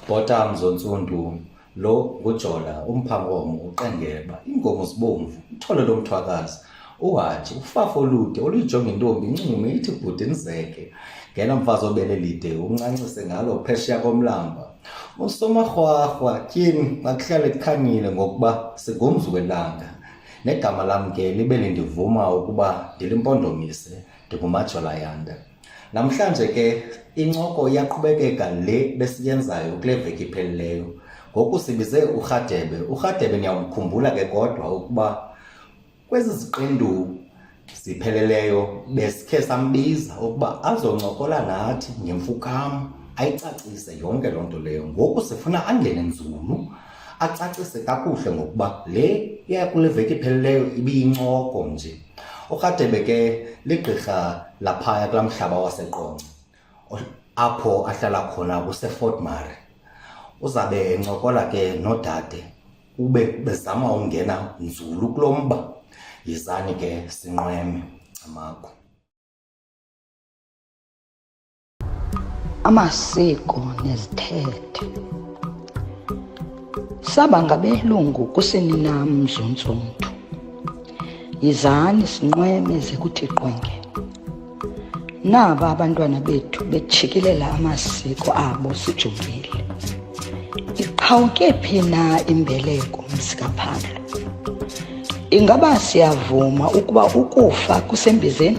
Bhota Mzontsundu, lo ngujola umphangomo uqengeba iinkomo zibomvu ithole lomthwakazi uhaji ufafa olude oluyijonga intombi incume ithi bhuti ndizeke ngena mfazi obele lide uncancise ngalo phesheya komlamba usomarhwarhwa tyini akuhlale kukhanyile ngokuba sigumzi welanga negama lam ke libe lindivuma ukuba ndilimpondomise ndingumajolayanda Namhlanje ke incoko iyaqhubekeka le besiyenzayo kule veki iphelileyo. Ngoku sibize uRhadebe. URhadebe niyawumkhumbula ke kodwa ukuba kwezi ziqendu zipheleleyo besikhe sambiza ukuba azoncokola nathi ngemfukam ayicacise yonke loo nto leyo. Ngoku sifuna angene nzulu acacise kakuhle ngokuba le yakule veki iphelileyo ibiyincoko nje. URadebe ke ligqirha laphaya kulaa mhlaba waseqonce apho ahlala khona kusefort mare uzabe encokola ke nodade ube bezama ungena nzulu kulo mba yizani ke sinqweme camagu amasiko nezithethe saba ngabelungu kusini nam mzuntsontu yizani sinqweme ze kuthi qwenge naba abantwana bethu betshikilela amasiko abo sijongile iqhawuke phi na imbeleko mzikaphandle ingaba siyavuma ukuba ukufa kusembizeni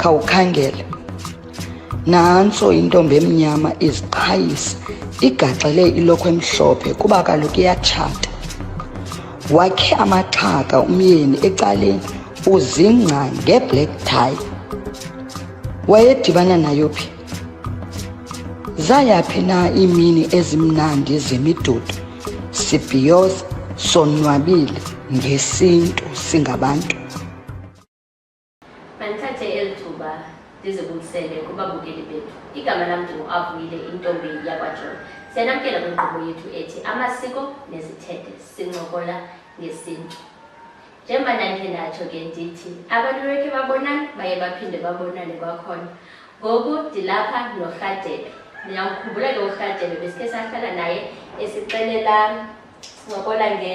khawukhangele nantso intombi emnyama iziqhayisa igaxele ilokho emhlophe kuba kaloku iyatshata wakhe amaxhaka umyeni ecaleni uzingca ngeblack tie wayedibana nayo phi zayaphi na iimini ezimnandi zemidudu sibhiyoza sonwabile ngesintu singabantu Mandithathe eli thuba ndizibulisele kubabukeli bethu. Igama lam ndinguAvuyile intombi yakwaJola. Siyanamkela kwinkqubo yethu ethi amasiko nezithethe sincokola ngesintu. Njengoba ndandikhe ndatsho ke ndithi abantu bekhe babonane baye baphinde babonane kwakhona. Ngoku ndilapha noRhadebe. Ndiyamkhumbula ke uRhadebe besikhe sahlala naye esixelela sincokola nge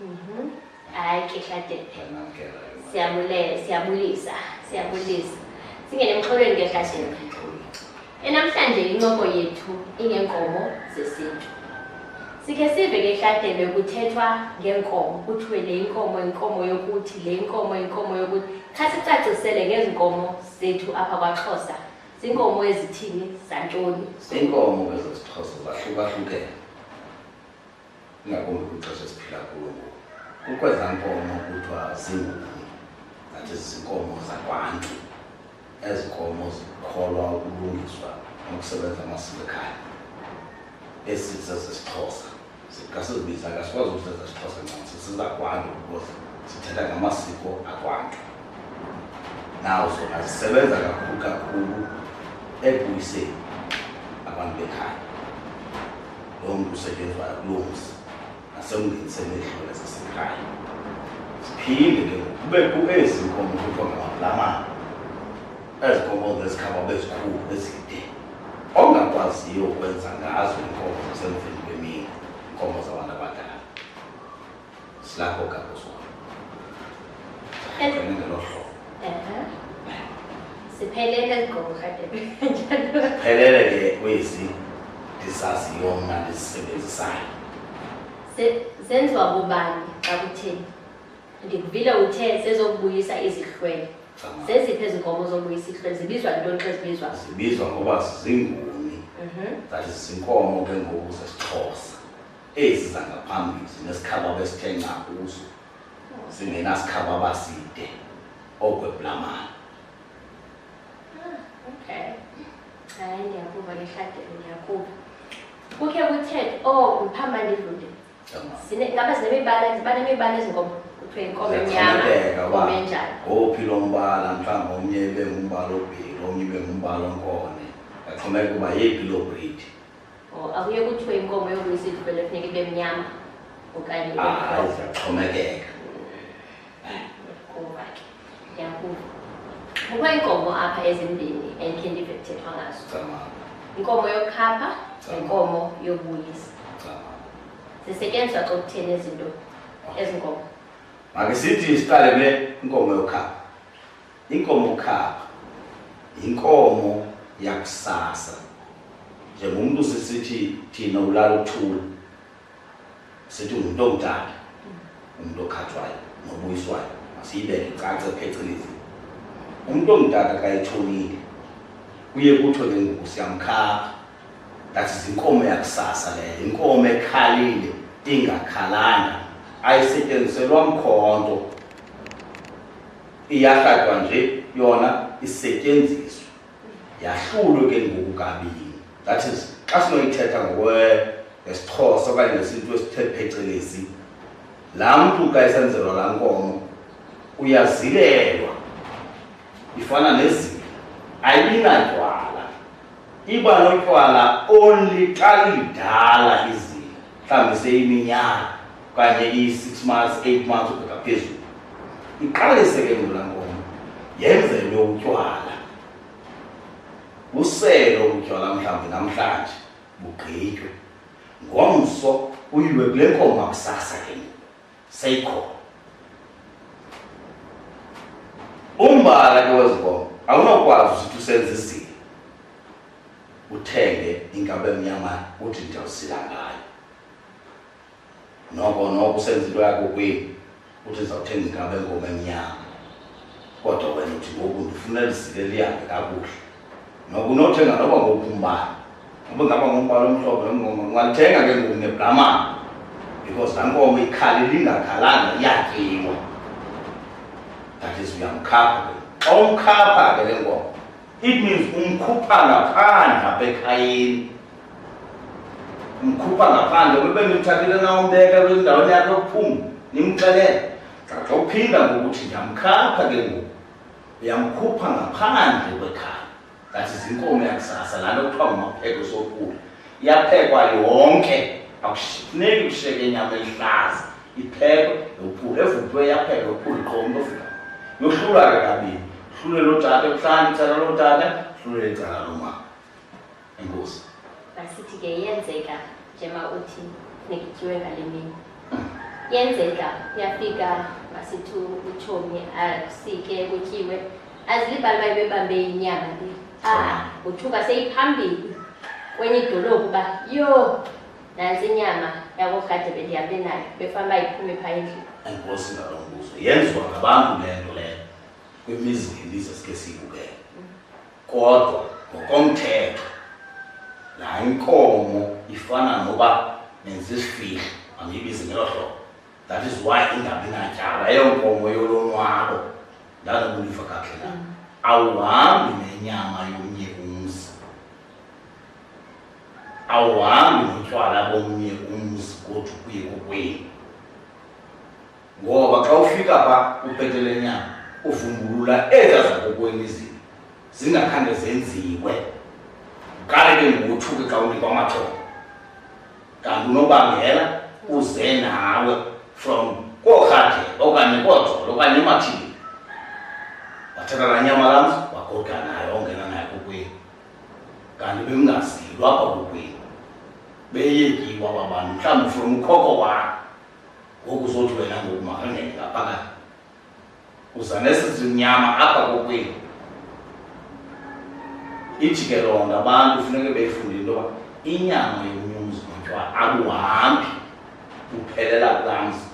Mhm. hayi ke shadebe siyabule siyabulisa siyabulisa singene emxholweni ke shadebe enamhlanje incoko yethu ingenkomo zesintu sikhe sive ke shadebe kuthethwa ngenkomo kuthiwe le inkomo inkomo yokuthi le inkomo inkomo yokuthi kha sicacisele ngezinkomo zethu apha kwaxhosa ziinkomo ezithini zantoni iinkomo ke zesixhosa zahlukahlukene ingakumbi kwixesha esiphila kulo ngoku kukwezaa nkomo kuthiwa zinguni zathi zinkomo zakwantu ezi nkomo zikholwa ukulungiswa nokusebenza amasiko ekhaya esithi sasesixhosa kasizibiza kasikwazi ukusenza sixhosa ncam sisizakwantu because sithetha ngamasiko akwantu nawo zona zisebenza kakhulu kakhulu ekubuyiseni abantu bekhaya loo mntu usetyenzwayo kuloo mzi nasekungeniseni iidlole zasekhaya siphinde ke kubekho ezi nkomo kuthiwa ngamalamana ezi nkomo zezikhaba bezikhulu ezide ongakwaziyo ukwenza ngazo iinkomo zasemveni kwemini iinkomo zabantu abadala silapho gakuso Ezi- ngelo hlobo Ehe. Siphelele ezigqoko kadebe. phelele ke kwezi ndizaziyo mna ndizisebenzisayo Se- Zenziwa bubani xa kutheni? Ndikuvile uthe sezokubuyisa izihlwele. Cama. Zeziphi ezi nkomo zobuyisa izihlwele? Zibizwa ntoni xa zibizwa? zibizwa ngoba zinguni Mhm. that is zinkomo ke ngoku zesixhosa ezi zangaphambili zinesikhaba besithe nca kuzo zingenasikhaba abaside okweblamana okay hayi ndiyakuva ngehlagelo ndiyakuva kukhe kuthethe o oh, ndiphamba ndidlule ngaba zinemibala ziba nemibala ezinkomo kuthiwe inkomo emnyama inkomo enjani ngophi lo mbala mhlawumbi omnye ibe ngumbala obhili omnye ibe ngumbala onkone ngaxhomeka uba yeyiphi loo bridi Oh, akuye kuthiwe inkomo yokumisa idlubele funeka ibe mnyama okanye ibe Ah, mhlophe. izawuxhomekeka. Kuba ke, ndiyakuva. Kukho iinkomo apha ezimbini endikhe ndive kuthethwa ngazo. Cama, Inkomo yokhapha nenkomo yobuyisa. cama. Zisetyenziswa xa kutheni izinto ezi nkomo. Makisithi siqale kule inkomo yokhapha. Inkomo khapha yinkomo yakusasa njengomntu sisithi thina ulala uthula sithi ngumntu omdala umntu okhathwayo nobuyiswayo masiyibeke icace phecelezi umntu omdala kayithonile kuye kuthiwe ke ngoku siyamkhapha that is inkomo yakusasa leyo inkomo ekhalile ingakhalanga ayisetyenziselwa mkhonto iyahladwa nje yona isetyenziswe yahlulwe ke ngoku kabini that is xa sinoyithetha ngokwesixhosa okanye ngesintu esithe phecelezi laa mntu ka esenzelwa laa nkomo uyazilelwa ifana nezila ayinadywala iba notywala only xa lidala izila mhlawumbi seyiminyaka okanye iyi-six months eight months ubheka phezulu iqalise ke ngola nkomo yenzelwe utywala uselo utywala mhlawumbi namhlanje bugqitywe ngomso uyilwe kule nkomo makusasa ke seyikhona umbala ke wezinkomo awunokwazi usithi usenza izile uthenge inkabe emnyamana uthi ndiyawusila ngayo noko noko usenza into yakho kweli uthi ndizawuthenga ingaba engoma emnyama kodwa wena uthi ngoku ndifuna lizike lihambe kakuhle noko unothenga noba ngoku umbala uba ngaba ngombala omhlobo nomngoma ungalithenga ke ngoku nebramana because laa nkomo ikhali lingakhalanga iyatyiwa that is uyamkhapha ke xa umkhapha ke le nkomo it means umkhupha ngaphandle apha ekhayeni mkhupha ngaphandle kube nimthathile nawumbeka kwindaweni yakhe yokuphuma nimxelele xa uphinda ngokuthi ndiyamkhapha ke ngoku uyamkhupha ngaphandle kwekhaya that is inkomo yakusasa laa nto kuthiwa ngumapheko sokula iyaphekwa yonke akufuneki kushiyeke inyama elihlaza iphekwe yophula evuthwe yapheka yophula qo umntu ofika yohlulwa ke kabini hlulwe loo tata ebuhlani icala loo tata hlulwe icala lomama inkosi masithi ke yenzeka njema uthi funeka ngale mini yenzeka uyafika masithi utshomi asike kutyiwe azilibali baye bebambe inyama le ah uthuka seyiphambili kwenye idolophu uba yho nantsi inyama yakohade bendihambe nayo befana uba iphume phaa endlini enkosi ngalo mbuzo yenziwa ngabantu le nto leyo kwimizi ngemizi esike siyibukele kodwa ngokomthetho laa inkomo ifana noba nenza isifihlo andiyibizi ngelo hlobo that is why ingabi natyala eyo nkomo yolonwabo ndanobuliva kakhe na mm. awuhambi nenyama yomnye umzi awuhambi notywala bomnye umzi kodwa kuye kokwenu ngoba xa ufika pha upetelenyana uvumbulula ezaa zakokweni izinto zingakhange zenziwe kale ke ngokuthuke xa unikwa amaxhoba kanti unobangela uze nawe from koorhade okanye koojolo okanye emathini wathatha laa nyama lamzi wagoda nayo ongena nayo kokwenu kanti bemngazilwa kwakokwenu beyekiwa babantu mhlawumbi from ukhoko wakho ngoku uzothi wena ngoku makangene ngaphakathi uza nesizimnyama apha kokwenu ijikelonda abantu funeke beyifundile into yoba inyama yomnyumzi notywala akuhambi uphelela kulamzi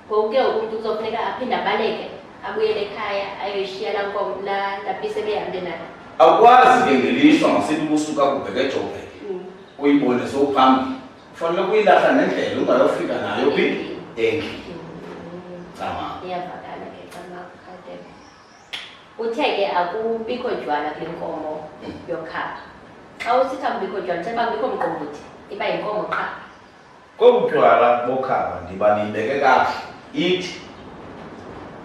ngoku ke umntu kuzofuneka aphinde abaleke abuyele ekhaya ayoyishiya la nkomo la lapise behambe nayo awukwazi ke ngelishwa masithi kusuka kubheke ejobheke mm. uyibone sowuphambili ufanele ukuyilahla ngendlela ungayofika nayo phi endlini cama iyavakala ke cama kade uthe ke akubikho jwala kule nkomo yokhapha xa usitha kubikho jwala uthe uba kubikho mqombothi iba yinkomo qha kobu jwala bokhapha ndiba niyibeke kakuhle ithi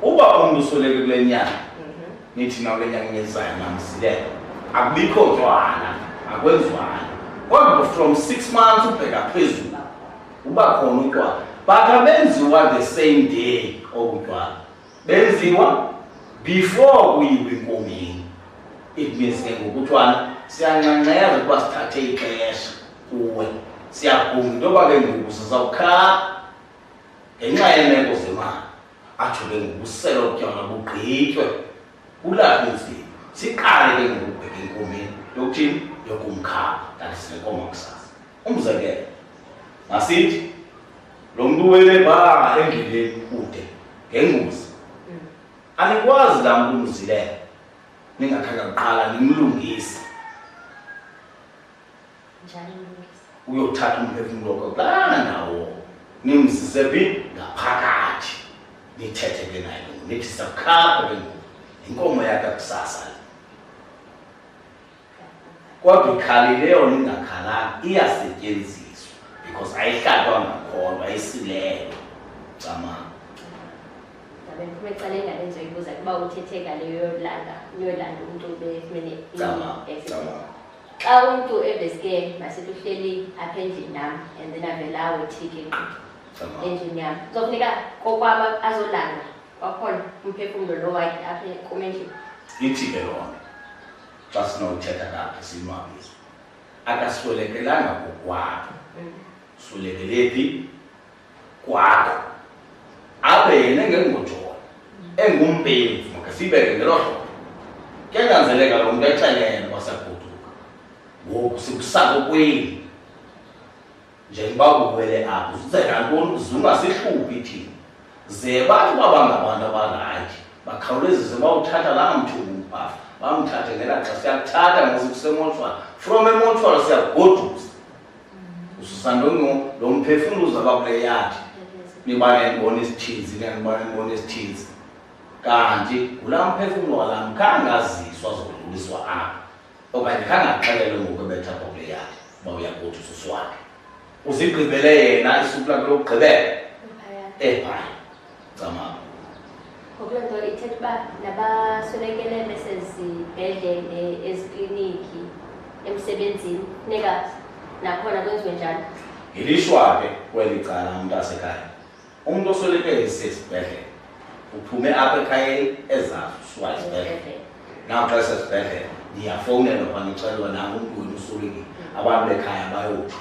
uba umntu usweleke kule nyanga nithi na kule nyanga inyezayo namsilela akubikho ntwana akwenzwana kodwa from six months ubheka phezulu uba khona utywala but abenziwa the same day obutywala benziwa before kuyiwe enkomeni it means ke ngokutwana siyanxanxeza ukuba sithathe ixesha kuwe siyaguma into yoba ke ngoku sizawukhala ngenxa yeemeko zemali atsho ke ngobusela obutyama bugqitywe kulaphi nzima siqale ke ngokubheka enkomeni yokuthini yokumkhaba kanti sinenkomo kusasa umzekelo masithi lo mntu wele ba endleleni kude ngengozi mm. anikwazi laa mntu umzilela ningakhange kuqala nimlungise njani mlungisi uyothatha umphefumulo wakho kulana nawo nimzise phi ngaphakathi nithethe ke naye lo nithi sakhapha ke ngoku yinkomo yakhe kusasa le kodwa ikhalile yona ingakhalanga iyasetyenziswa because ayihlatwa ngakhona ayisilelo camanga bekume cala ingane endizoyibuza kuba uthetheka leyo yolanda yolanda umntu befumene Cabanga, cabanga. xa umntu eveske masithi uhleli apha endlini nam and then avela awethike ngqi endlini yam kuzofuneka kokwaba azolanda kwakhona umphefumlo lo wakhe apha kum endlini ithi ke loo nto xa sinothetha kaphi sinwabise akaswelekelanga kokwabo mm. swelekele phi kwakho abe yena engengojona engumpemvu makasibeke ngelo hlobo kuyanyanzeleka lo mntu exelele wasagoduka ngoku sikusakokweli njengoba uwele apho uzenantoni zungasihlubi thina ze bathi uba bangabantu abanganje bakhawulezise bawuthatha laa mthubi umbhafa bamthathe ngela xa siyakuthatha ngosukusemontshwana from emontshwana siyakugodusa ususandono lo mphefumlo uzaba kule yakhe niba nenibona isithinzi nenibona nenibona isithinzi kanti ngula mphefumlo walam khange aziswa zokudluliswa apha okanye khange axelelwe ngokubetha kwakule yakhe uba uyakuthi ususu wakhe uzigqibele yena isuku lakhe lokugqibela ephaya Camagu. Ngokuloo nto ithetha uba nabaswelekele besezibhedlele ezikliniki emsebenzini funeka nakhona kwenziwe njalo Ngilishwa ke kweli cala umntasekhaya. Umuntu oswelekele sesibhedlele uphume apha ekhayeni ezazi usuka esibhedlele. Ezibhedlele. Naw xa sesibhedlele niyafowunelwa kwaniceliwa nangu umntu wenu uswelekile. Abantu bekhaya bayotsho.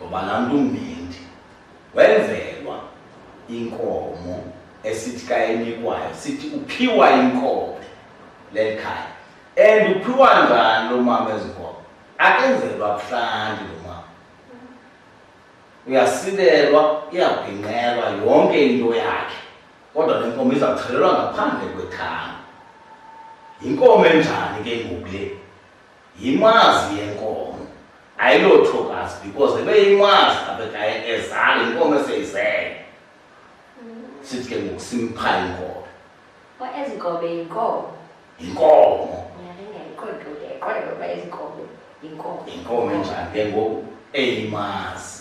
ngoba laa mntu umbendi wenzelwa inkomo esithi ka enikwayo sithi uphiwa inkobe leli khaya and uphiwa njani lo mama ezinkomo akenzelwa buhlanti lo mama uyasilelwa iyabhinqelwa yonke into yakhe kodwa le nkomo iza kuchelelwa ngaphandle kwethanga yinkomo enjani ke ngoku le yimazi yenkomo ayilothokazi because ebeyimazi abekaye ezale inkomo eseyizele sithi ke ngoku simpha inkomo ezinkobe yinkomo yinkomo yinkomo enjani ke ngoku eyimazi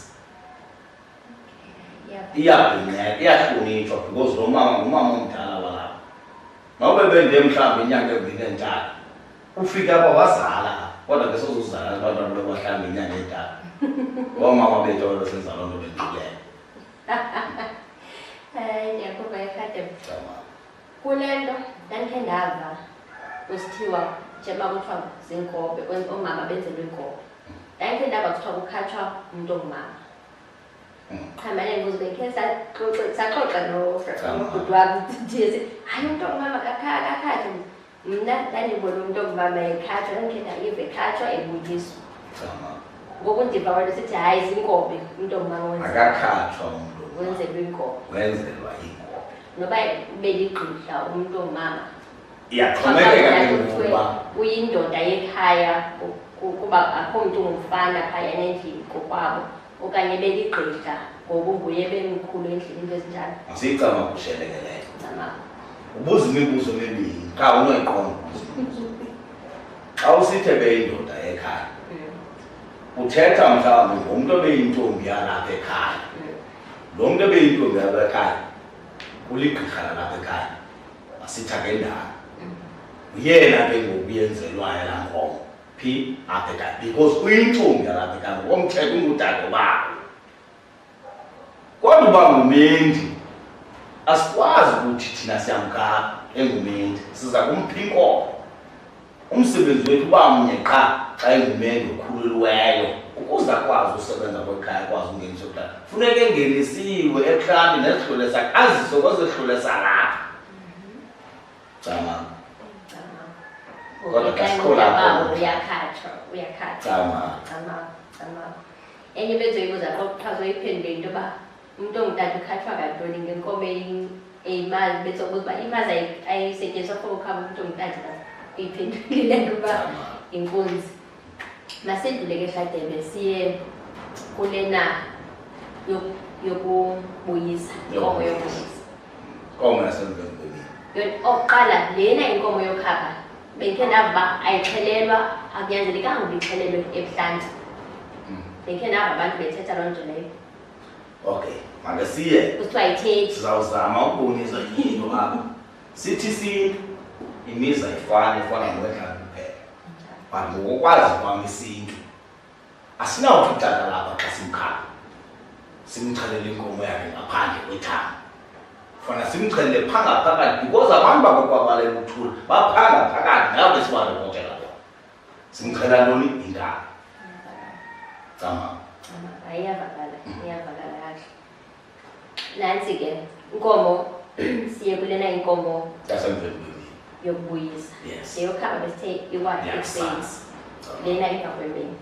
iyabhinceka iyahlonitshwa because lo mama ngumama omdala walapha nobe bende mhlawumbi inyanga embini entaka ufike apha wazala kodwa ke sozuzala abantwana bekwahlambi inyanga edala oomama bethu olo senza loo nto benqulele kule nto ndandikhe ndava kusithiwa njengoba kuthiwa ziinkobe oomama benzelwe iinkobe ndandikhe ndava kuthiwa kukhatshwa umntu ongumama qhambane ngozi bekhe saxoxa saxoxa nobhuti wam ndithi hayi umntu ongumama kakhathi mna ndandibona umntu okuba mayekhatshwa ndandikhetha ive ekhatshwa ebuyiswa ngoku ndiva wanto sithi hayi zinkobe umntu omakaakhatshwa umntu wenzelwa inkobe wenzelwa inkobe noba beligqidla umntu omama iyaxhomekeka keuba uyindoda yekhaya kuba akho mntu ngumfana phayana endlini kokwabo okanye beligqigqa ngoba unguye bemkhulu endlini into ezinjalo masiyicama kushelekeleyo ubuza imibuzo emibini qha unoyiqonda xa usithe beyindoda ekhaya mm. uthetha mhlawumbi ngomntu obeyintombi yalapha ekhaya mm. lo mntu obeyintombi yalapha ekhaya kuligqirha lalapha ekhaya asitha ngendala mm. uyena ke ngoku yenzelwayo laa nkomo phi aphe ka because uyintombi alaphe ka ngokomthetho ungudade bakho kodwa uba ngumendi asikwazi ukuthi thina siyamka engumendi siza kumpha inkomo umsebenzi wethu uba mnye qha xa engumendi okhululiweyo ukuze akwazi usebenza kwekhaya akwazi ungenisa kudala funeka engenisiwe ekhandi nezihlule sakhe azise kwezehlule salapha Tama. Tama. Kodwa Ubeka kasiqhu lapho. indawo, uyakhatshwa uyakhatshwa Tama. Tama, tama. enye into endizoyibuza xa uchaza uyiphendule into yoba umntu ongutata ukhatshwa kantoni ngenkomo eyi- eyimali besobuza uba imali ayi- ayisetyenziswa for ukhaba umntu ongutata uyiphendulile ngoba Tama. inkunzi masidlule ke shadebe siye kulena yokubuyisa inkomo yokubuyisa inkomo yasemvembeleni okuqala lena inkomo yokhapha bengikhe ndava uba ayixhelelwa akunyanzelekanga uba ixhelelwe ebuhlanti hmm. bengikhe ndava abantu bethetha loo nto leyo okay make siye kuthiwa yithethi sizawuzama ukubonisa yinto apha sithi sintu imizi ayifani ifana nowedlalo but ngokokwazi kwam isintu asinawuthi utata lapha xa simkhala simxhelele inkomo yakhe ngaphandle kwethanga fana simxhelele phangaphakathi because abantu bakokwabalela ukuthula baphanga phakathi ngabo sibalokotela bona simxhela ntoni intanga cama iyavakala iyavakala nantsi ke inkomo siye kulena inkomo yokubuyisa leyokhaba besithe iwathi ekuseni lena emva kwemini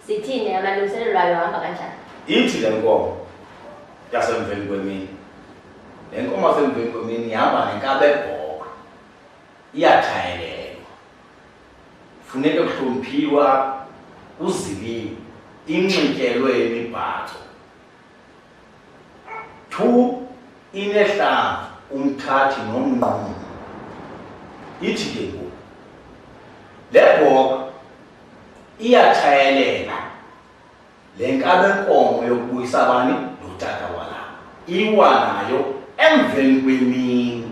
sithini amalungiselelo lwayo hamba kanjani ithi le nkomo yasemveni kwemini le nkomo yasemveni kwemini ihamba nenkabebhoka iyathayelelwa funeke kuhloniphiwa kuziliwe inxityelwe imibhaco 2 inehlanza umthathi nomnquma ithi ke ngoku le bhoka iyatshayelela le nkabenkomo yokubuyisa bani notata walapha iwa nayo emveni kwemini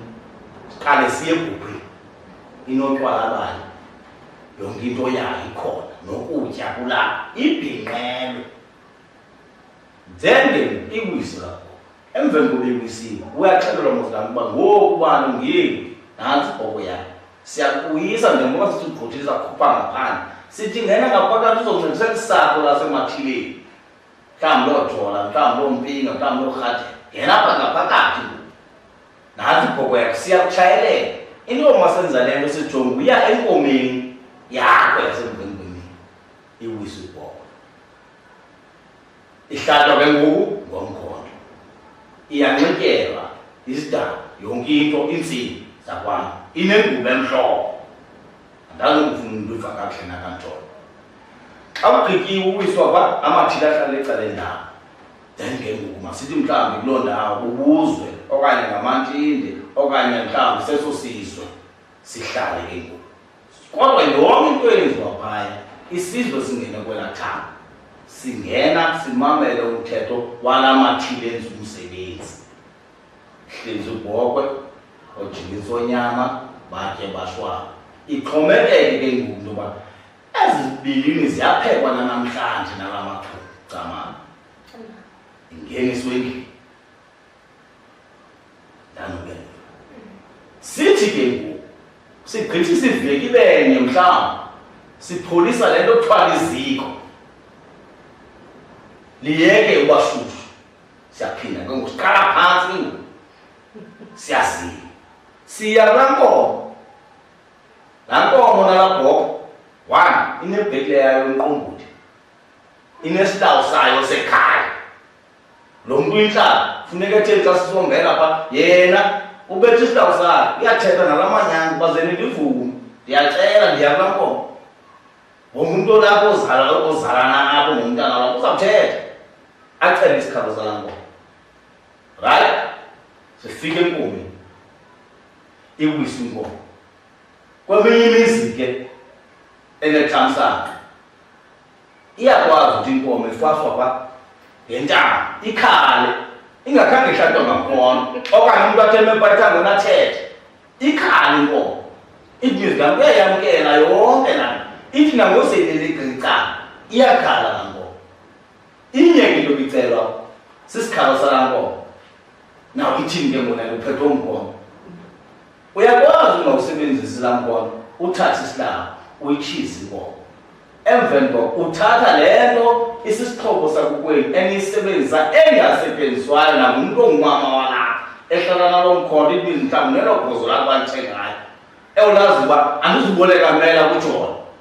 siqale siye kuphi inotywala bayo yonke into yayo ikhona nokutya kulapha ibhinqelwe Njengeni iwisi lakho. Emveni kokuba iwisiwe, uyaxelelwa mozilami uba ngoku ubani ungeli nantsi ibhoko yakho. Siyakuyisa njengoba sithi ugqothile sakhupha ngaphandle. Sithi ngena ngaphakathi uzoncedisa kusapho lasemathileni. Mhlawumbi loo jola, mhlawumbi loo mpinga, mhlawumbi loo rhathe. Ngena apha ngaphakathi ngoku. Nantsi ibhoko yakho, siyakutshayelela. Into yokuba senza le nto sijonga uya enkomeni yakho yasemveni kwemini. Iwisi ibhoko. ihlatshwa ke ngoku ngomkhondo iyanxityelwa izidaba yonke into iintsimbi zakwam inengubo emhloko andazokufuna umntu uva kakuhle nakantsholo xa kugqityiwe uwiswa kwa amathile ahlala ecala endawo then ke ngoku masithi mhlawumbi kuloo ndawo bubuzwe okanye ngamantinde okanye mhlawumbi seso sizwe sihlale ke ngoku kodwa yonke into eyenziwa phaya isizwe singene kwela thanga singena simamele umthetho wala mathile enza umsebenzi hlinza ubhokwe ojingisa onyama batye bashwaba ixhomeleke ke ngoku into yoba ezi zibilini ziyaphekwa nanamhlanje nala mathunga camana ingeniswe endlini Ndanobenza. Sithi ke ngoku sigqitha isiveki benye mhlawumbi sipholisa le nto kuthiwa liziko liyeke ubashushu siyaphinda ke ngoku siqala phantsi ke ngoku siyazile siya kulaa nkomo laa nkomo nalaa bhoko one inebhekile yayo umqombothi inesilawu sayo sekhaya lo mntu uyintlala funeka etheni xa sisombela pha yena ubetha isilawu sakhe uyathetha nala manyanga uba ze nindivume ndiyacela ndiya kula nkomo ngomntu olapho ozalana apho ngomntana lapho uzawuthetha acele isikhalo sala nkomo right sifike enkomeni iwisa inkomo kweminye imizi ke enethamsanqa iyakwazi ukuthi inkomo ifaswa pha ngentaba ikhale ingakhange ihlatwa ngakhona okanye umntu atheme pathango nathethe ikhale inkomo ithi mizwi kam kuyayamkela yonke lana ithi nangoseleleqica iyakhala nankomo inye ke into bicelwa sisikhalo salankomo naw ithini ke ngona luphethwe umgomo uyakwazi ungawusebenzisi laa mbono uthathe isilanga uyitshize inkomo emveni koko uthatha le nto isisixhobo sakukwenu eniyisebenzisa engasetyenziswayo nangumntu ongumama walapha ehlala nalo mkhondo ibizi mhlawumbi nelo gozo lakho alithengayo ewulazi uba andizuboleka mela kujona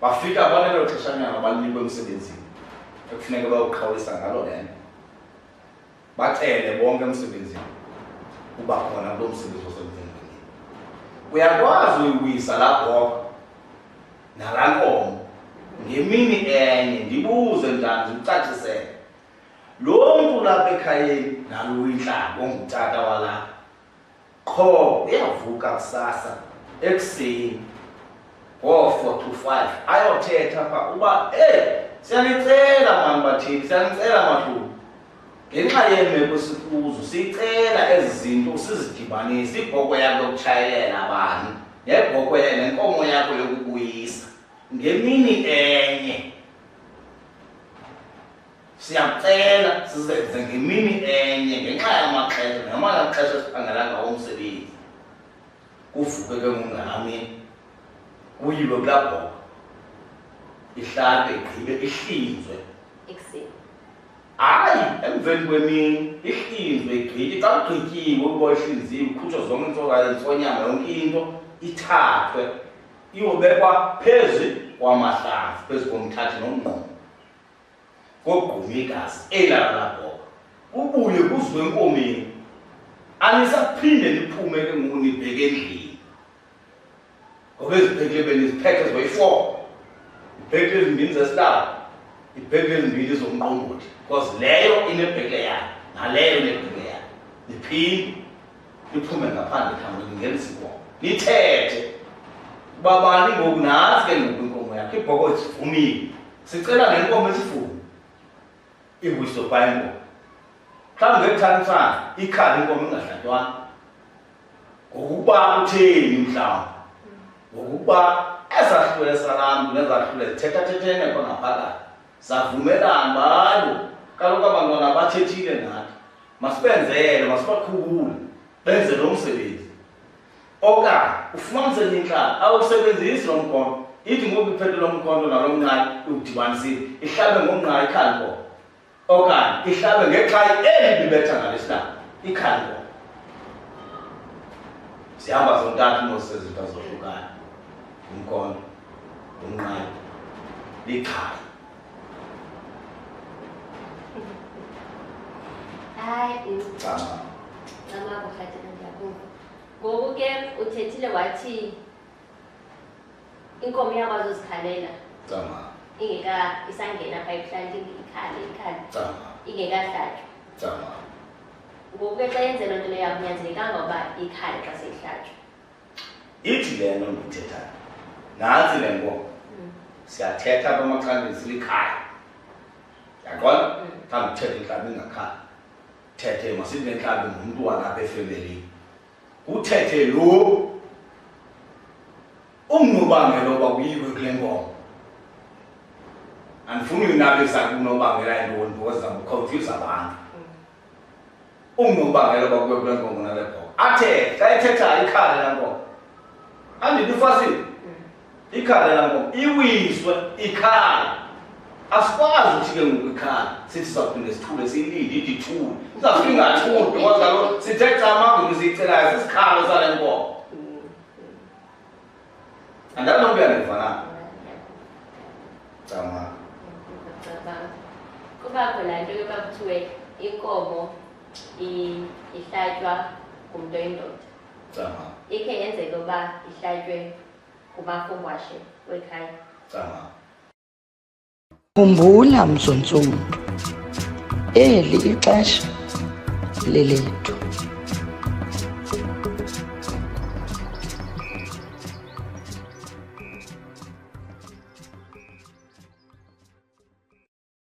bafika balelo xeshanyana balinikwe emsebenzini ekufuneka bayoqhawulisa ngalo le nto bacele bonke emsebenzini uba khona kulo msebenzi osemvengeni uyakwazi uyibuyisa la bhoka nala nkomo ngemini enye ndibuze njani ndikucacisele lo mntu lapha ekhayeni nalo uyintlanga ongutata walapha qho uyavuka kusasa ekuseni ngoo-four to five ayothetha pha uba eyi siyanicela mani bathini siyanicela mahluku ngenxa yeemeko sikuzo sicela ezi zinto usizidibanise ibhoko yakho yokutshayelela bani nebhoko nenkomo yakho yokubuyisa ngemini enye siyacela sizenze ngemini enye ngenxa yamaxesha ngamala xesha siphangela ngawo umsebenzi kuvuke ke ngungami kuyilwe kulaa bhoka ihlabe igqibe ihlinzwe ekuseni hayi emveni kwemini ihlinzwe igqibe xa kugqityiwe ukuba ihlinziwe ukhutshwa zonke intsonyama yonke into ithathwe iyobekwa phezu kwamahlazi phezu komthathi nomngqomo kogquma igazi elala labhoka kubuye kuzwe enkomeni anisaphinde niphume ke ngoku nibheke endlini ngoba ezibhekile beniziphethe zibayi-four ibhekile ezimbini zesilaba ibhekile ezimbini zomqombothi because leyo inebhekile yayo naleyo inebhekile yayo niphinde liphume ngaphandle thambo lingena isibongo lithethe babani ngoku nantsi ke ngoku inkomo yakhe ibhoko zivumile sicela le nkomo esivume iwiso bha inkomo mhlawumbi ngekuthanisana ikhala inkomo ingahlatywanga ngokuba utheni mhlawumbi ngokuba ezahlule salamntu nezahlule zithethathethene khona phakathi savumelana balo kaloku abantwana abathethile nathi masibenzele masibakhubule benze lo msebenzi okanye ufumanise intlala awusebenzisi lo mkhonto ithi ngoku iphethe lo mkhonto nalo mnqayi udibanisile ihlabe ngomnqayi ikhalibho okanye ihlabe ngexhayi eli bibetha ngalesihlaba ikhalibho sihamba zontathu nosezinto zohlukana umkhonto umnqayi likhaya hayi cama cama kuhlathela ndiyakuva ngoku ke uthethile wathi inkomo iyakwazi uzikhalela cama ingeka isangena pha ebuhlanti ikhale ikhale cama ingekahlatywa cama ngoku ke xa yenze loo nto leyo akunyanzelekanga uba ikhale xa seyihlatywa ithi le nto ndiyithethayo nantsi le nkomo siyathetha apha emaxhantini silikhaya yaqona thanda uthetha intlabi ingakhaya thethe masithi nentlabi ngumntu walapha efemelini kuthethe lo ungunobangela oba kuyikwe kule nkomo andifuni uyinabisa kunobangela yintoni because zabukhawuthiza abantu ungunobangela uba kube kule nkongo nale bhoka athe xa ethetha ikhale la nkongo andini ufasile ikhale la nkongo iwiswe ikhala asikwazi ukuthi ke ngoku ikhala sithi sawuphinde sithule siyilinde ide ithule uzafika ingathuli ngoba kaloku sithe xa amagulu siyicelayo sisikhalo sale nkongo Andalo mntwana ndifana. Cama. Kubakho laa nto yoba kuthiwe inkomo ihlatywa ngumntu oyindoda. Cama. Ikhe yenzeke uba ihlatywe ngumafungwashe wekhaya. Cama. Khumbula mzuntsundu, eli ixesha lelethu.